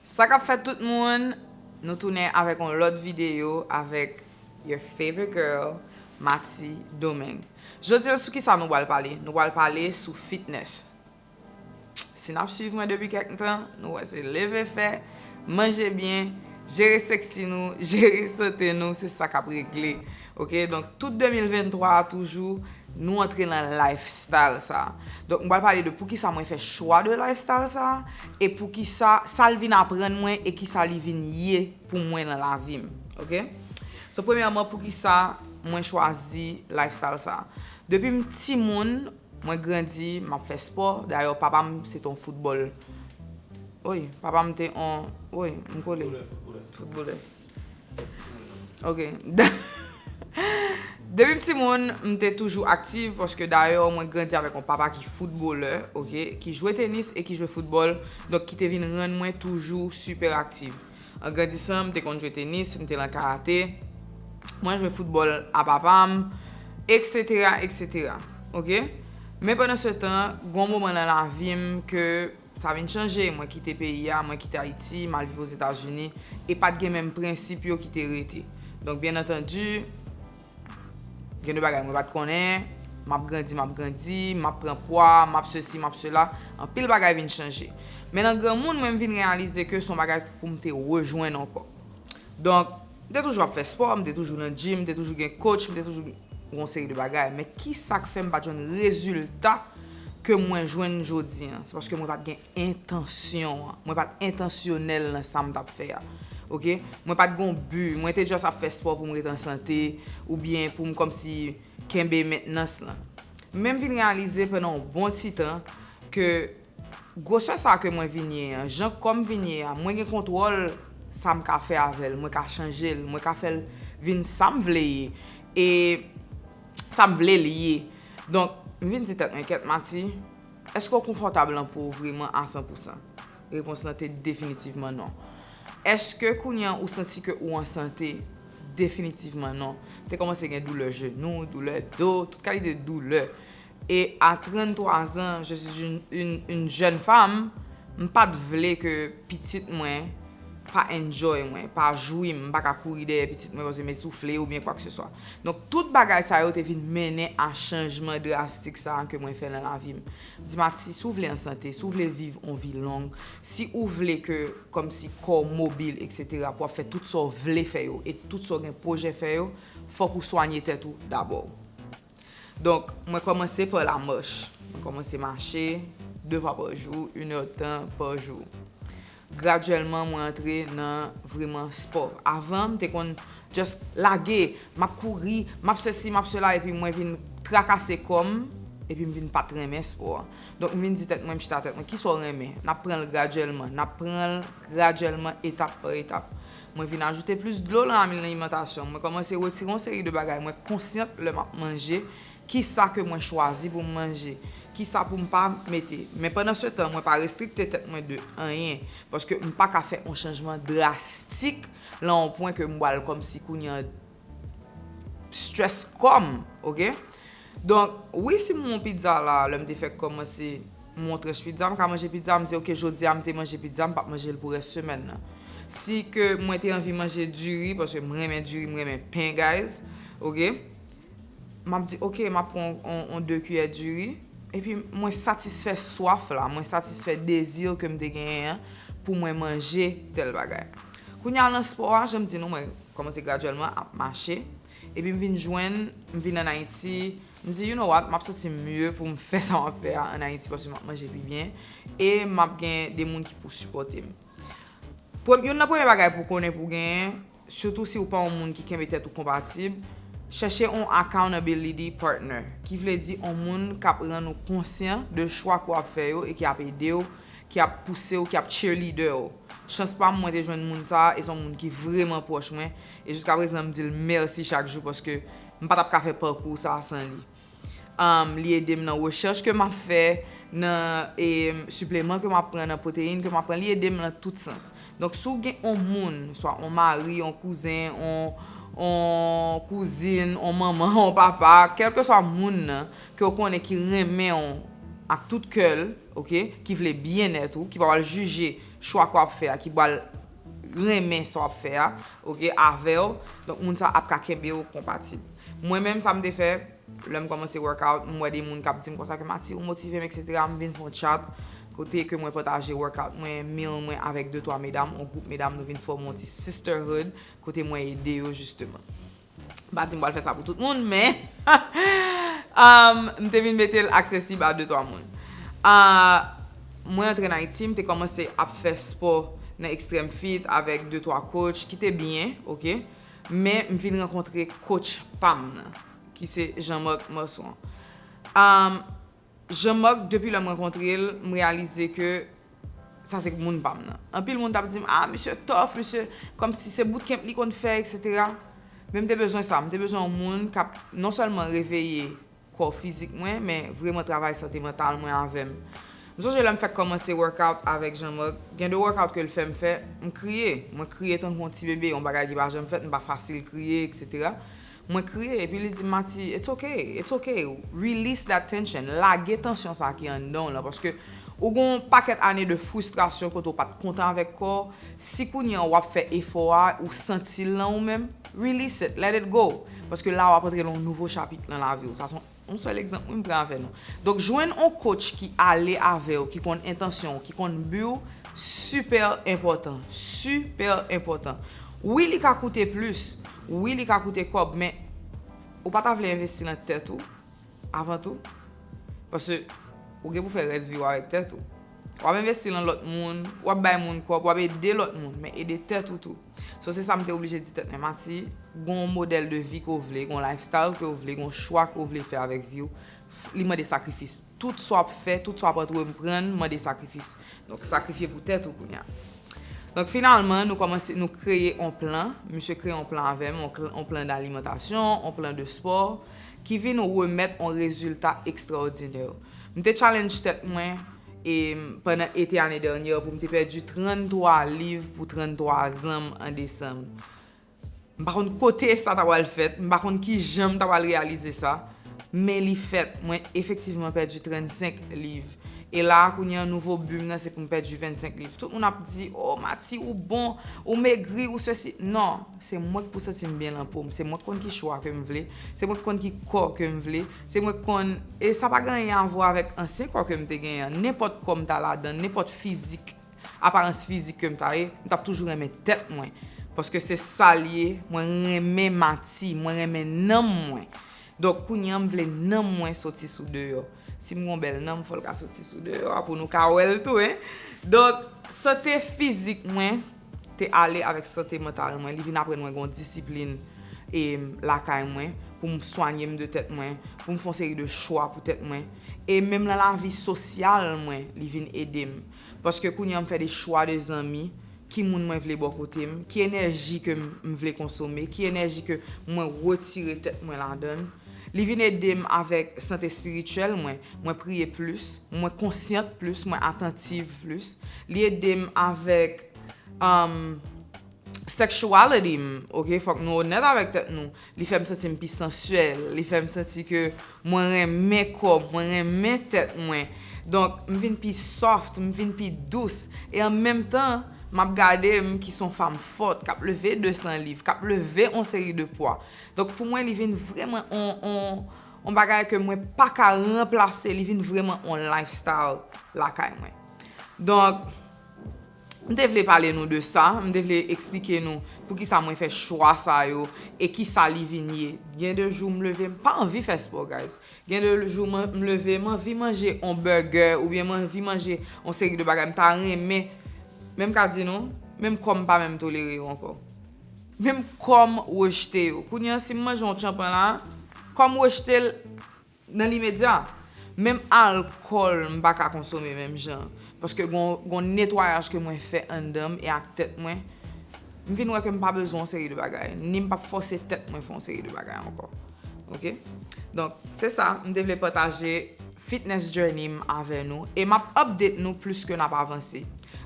Sa kap fèt tout moun, nou tounen avèk yon lòt videyo avèk your favorite girl Mati Domeng. Jodi an sou kisa nou pral pale? Nou pral pale sou fitness. Si nap swiv mwen depi kèk tan, nou wè se leve fè, manje byen, jere sexy nou, jere sante nou se sa kap regle Ok donk tout 2023 a toujou nou antre nan lifestyle sa. Donk m pral pale de poukisa mwen fè chwa de lifestyle sa e poukisa sa l vin aprann mwen e kisa li vin ye pou mwen nan lavi m. Ok So premyèman poukisa mwen chwazi lifestyle sa. Depi m timoun mwen grandi m ap fè spò dayè papa m se te yon foutbòl Oy papa m te yon Oy m kole Foutbolè foutbolè. Ok. Depi m timoun, m te toujou aktiv paske dayè mwen grandi avèk yon papa ki foutbolè, ok, ki jwe tenis e ki jwe foutbòl, donk ki te vin rann mwen toujou sipè aktiv. An grandisan, m te konn jwe tenis, m te lan karate, mwen jwe foutbòl a papa m, eksetera, eksetera. Ok? Men pandan se tan, gen yon moman nan lavi m ke Sa vin chanje, mwen kite peyi a, mwen kite Ayiti, m al viv Ozetazini, e pa t gen menm prensip yo ki te rete. Donk, byen antandi, gen de bagay mwen pa t konnen, m ap grandi, m ap grandi, m ap pran pwa, m ap sesi, m ap sela, anpil bagay vin chanje. Men nan granmoun, mwen m vin reyalize ke s on bagay pou m te rejwenn ankò. Donk, m te toujou ap fè spò, m te toujou nan djim, m te toujou gen kotch, m te toujou yon seri de bagay. Men kisa k fè m pa t jwenn rezilta ke mwen jwenn jodi an? Se paske mwen pa t gen entansyon an. Mwen pa t entansyonèl nan sa m t ap fè a. Ok? Mwen pa t gen yon bi. Mwen te just ap fè spò pou m ret an sante oubyen pou m kòmsi kenbe mentnans lan. Men m vin reyalize pandan yon bon ti tan ke Gwosè sa ke mwen vin ye an, jan kò m vin ye a, mwen gen kontwòl sa m ka fè avè l, mwen ka chanje l, mwen ka fè l vin sa m vle ye e sa m vle l ye. Donk, m vin di tèt mwen, Kèt Mati, èske w konfòtab lan po w vreman a san pou san? Repons lan te definitivman non. Èske kounye an ou santi ke ou an sante? Definitivman non. Te kòmanse gen doulè jenou, doulè do, tout kalite doulè. E a 33 zan, je suis une une jeune femme, m pa t vle ke pitit mwen pa enjoy mwen, pa jwi m, m pa ka kouri dèyè pitit mwen paske m esoufle oubyen kwakseswa. Donk tout bagay sa yo te vin mennen a chanjman drastik sa ke mwen fè nan lavi m. M di Mati, si w vle an sante, si w vle viv on vi long, si ou vle ke kòmsi kò w mobil eksetera pou w ap fè tout sa w vle fè yo e tout sa w gen pwojè fè yo, fòk ou swanye tèt ou dabò. Donk, mwen kòmanse pa la mòch. Mwen kòmanse mache, 2 fwa pa jou, 1 è tan pa jou. Gradyèlman, mwen antre nan vreman spò. Avan, m te konn jès lage, m ap kouri, m ap sesi, m ap sela, epi mwen vin trakase kò m, epi m vin pa t renmen spò a. Donk, m vin di tèt mwen, m chita tèt mwen, ki sa w renmen? N ap pran l gradyèlman. N ap pran l gradyèlman, etap pa etap. Mwen vin ajoute plis dlo lan ami laimantasyon. Mwen kòmanse retire yon seri de bagay mwen konsyant lè m ap manje, ki sa ke mwen chwazi pou m manje, ki sa pou m pa mete. Men pandan se tan, mwen pa restrikte tèt mwen de anyen, paske m pa ka fè yon chanjman drastik lan yon pwen ke m bwal kòmsi kounye an, Stress kòm ok Donk wi si m wè yon pizza la lè m te fèk kòmanse m wè yon tranch pizza m ka manje pizza m di ok jodi a m te manje pizza m pap manje l pou rès semèn nan si ke mwen te anvi manje diri paske m renmen diri m renmen pen guys ok m ap di ok m ap pran yon 2 kiyè diri epi mwen satisfè swaf la mwen satisfè dezi ke m te genyen an pou mwen manje tèl bagay kounye a nan spò a jan m di nou mwen Kòmanse gradyèlman ap mache. Epi m vin jwenn, m vin ann Ayiti, m di, you know what, m ap santi m mye pou m fè sa m ap fè a ann Ayiti paske m ap manje pi byen e m ap gen de moun ki pou sipòte m. Pre, youn nan premye bagay pou w konnen pou w genyen, sitou si w pa yon moun ki kenbe tèt ou konpatib, chèche yon accountability partner, ki vle di yon moun k ap rann ou konsyan de chwa ke w ap fè yo e ki ap ede w ki ap pouse w, ki ap cheerleader w. Chans pa m mwen te jwenn moun sa a e se yon moun ki vreman pwòch mwen e jiska prezan m di l mèsi chak jou paske m pa t ap ka fè pakou sa a san li. Li ede m nan rechèch ke m ap fè, nan sipleman ke m ap pran, nan pwoteyin ke m ap pran, li ede m nan tout sans. Donk si w gen yon moun, swa yon mari, yon kouzen, yon kouzin, yon manman, yon papa, kèlkeswa moun nan ke w konnen ki renmen w ak tout kè l, ok ki vle byennèt ou ki pa pral jije chwa ke wap fè a ki pral renmen sa wap fè a ok avèw donk moun sa ap ka kenbew konpatib mwen menm sa m te fè lèm kòmanse workout m wè de moun kap dim konsa ke Mati ou motivem etc m vin fè yon chat kote ke mwen pataje workout mwen meal mwen avèk de twa medam yon gwoup medam nou vin fòme yon ti sisterhood kote mwen ede yo jisteman. M pa di m pral fè sa pou tout moun, men m te vin mete l aksesib a de twa moun. Mwen antre nan Ayiti, m te kòmanse ap fè spò nan Extreme Fit avèk de twa coach ki te byen, ok. Men m vin rankontre coach pa m nan, ki se Jean Marc Marson. Jean Marc depi lèm rankontrel m reyalize ke sa se moun pam nan anpil moun tap dim ah misye tof misye kòmsi se bootcamp li konn fè etc men m te bezwen sa m te bezwen yon moun kap non sèlman reveye kò fizik mwen men vreman travay sante mantal mwen avèm m sonje lèm fèk kòmanse workout avèk Jean Marc gen de workout kel fèm fè m kriye mwen kriye tankou yon ti bebe yon bagay ki pa janm fèt m pa fasil kriye etc Mwen kriye epi li dim Mati it's ok, it's ok release that tension lage tansyon sa ki anndan w lan paske ou gen yon pakèt ane de fristrasyon kote w pat kontan avèk kò w, si kounye an wap fè efò a ou santi l nan ou menm release it, let it go paske la wap antre nan yon nouvo chapit nan lavi w sa son Yon sèl egzanp wi m pran avè nou. Donk jwenn on coach ki ale avè w, ki konn entansyon w, ki konn bi w, sipè enpòtan. Sipè enpòtan. Wi li ka koute plis, wi li ka koute kòb men ou pa ta vle envesti nan tèt ou avan tou? Pase ou gen pou fè rès vi w avèk tèt ou. W ap envesti nan lòt moun, w ap bay moun kòb, w ap ede lòt moun men ede tèt ou tou. So se sa m te oblije di tèt mwen, Mati, gen yon modèl de vi ke w vle, gen yon lifestyle ke w vle, gen yon chwa ke w vle fè avèk vi w, li mande sakrifis. Tout sa w ap fè, tout sa w ap antreprann mande sakrifis. Donk sakrifye pou tèt ou kounye a. Donk finalman, nou kòmanse, nou kreye yon plan, misye kreye yon plan avè m, yon plan dalimantasyon, yon plan de spò, ki vin remèt yon rezilta ekstraòdinè. M te challenge tèt mwen. e pandan ete ane dènyè pou m te pèdi 33 liv pou 33 zan m an desanm. M pa konn kote sa ta pral fèt, m pa konn ki jan m ta pral reyalize sa, men li fèt, mwen efektivman pèdi 35 liv. E la a kounye an nouvo bi m nan se pou m pèdi 25 liv. Tout moun ap di, o Mati ou bon, ou megri, ou sesi. Non, se mwen k pou santi m byen lan po m, se mwen k konn ki chwa ke m vle, se mwen k konn ki kò ke m vle, Se mwen k konn, e sa pa gen anyen avwa avèk ansyen kò ke m te genyen an. Nenpòt kò m ta ladan, nenpòt fizik, aparans fizik ke m ta ye, m t ap toujou renmen tèt mwen. Paske se sa l ye, mwen renmen mati, mwen renmen nanm mwen. Donk kounye an m vle nanm mwen soti sou deyò. Si m gon bèl nanm, fò l ka soti sou deyò a pou nou ka wè l tou, hein. Donk, sante fizik mwen. te ale avèk sante mantal mwen, li vin aprann mwen gen yon disiplin e lakay mwen pou m swanye m de tèt mwen, pou m fè yon seri de chwa pou tèt mwen e menm nan lavi sosyal mwen li vin ede m paske kounye an m fè de chwa de zanmi, ki moun mwen vle bò kote m, ki enèji ke m vle konsome, ki enèji ke mwen retire tèt mwen ladan l. Li vin ede m avèk sante espirityèl mwen, mwen priye plis, mwen konsyant plis, mwen atantiv plis. Li ede m avèk sexuality m, ok, fòk nou onèt avèk tèt nou, li fè m santi m pi sensuel, li fè m santi ke mwen renmen kò m, mwen renmen tèt mwen. Donk, m vin pi soft, m vin pi dous. E an menm tan, m ap gade m ki s on fanm fòt, k ap leve 200 liv, k ap leve on seri de pwa. Donk pou mwen li vin vreman on on on bagay ke mwen pa ka ranplase, li vin vreman on lifestyle lakay mwen. Donk m te vle pale nou de sa, m te vle eksplike nou poukisa mwen fè chwa sa yo e kisa li vin ye. Gen de jou m leve m pa anvi fè spò guys. Gen de jou m leve m anvi manje on bègè oubyen m anvi manje on seri de bagay m ta renmen men m ka di nou menm kò m pa menm tolere yo ankò. Menm kòm rejte yo. Kounye an si m manje yon tchanpan la, kò m rejte l nan limedya. Menm alkòl m pa ka konsome menm jan. Paske gon netwayaj ke mwen fè anndan m e ak tèt mwen. M vin wè ke m pa bezwen yon seri de bagay. Ni m pap fòse tèt mwen fè yon seri de bagay ankò. Ok Donk se sa m te vle pataje fitness journey m avè nou e m ap update nou plis ke n ap avanse.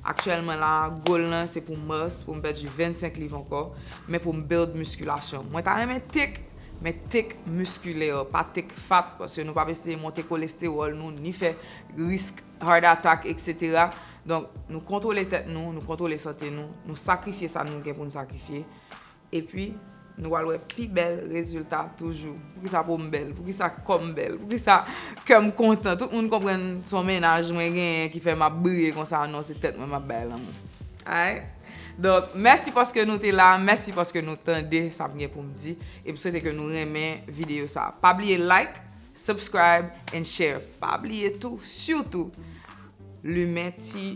Aktyèlman la goal lan se pou mars pou m pèdi 25 liv ankò men pou m build miskilasyon m. Mwen ta renmen tik men tik miskilè pa tik fat paske nou p ap eseye monte kolestewòl nou ni fè risk heart attack etc. Donk nou kontwole tèt nou, nou kontwole sante nou, nou sakrifye sa nou gen pou n sakrifye Epi, nou pral wè pi bèl rezilta toujou. Poukisa po m bèl? Poukisa kò m bèl? Poukisa kè m kontan? Tout moun konprann s on mennaj mwen genyen ki fè m ap briye konsa. Non, se tèt mwen m ap bay lanmou. Alright? Donk, mèsi paske nou te la. Mèsi paske nou tande sa m gen pou m di. E m swete ke nou renmen videyo sa a. Pa bliye like, subscribe and share. Pa bliye tou, sitou, limen ti.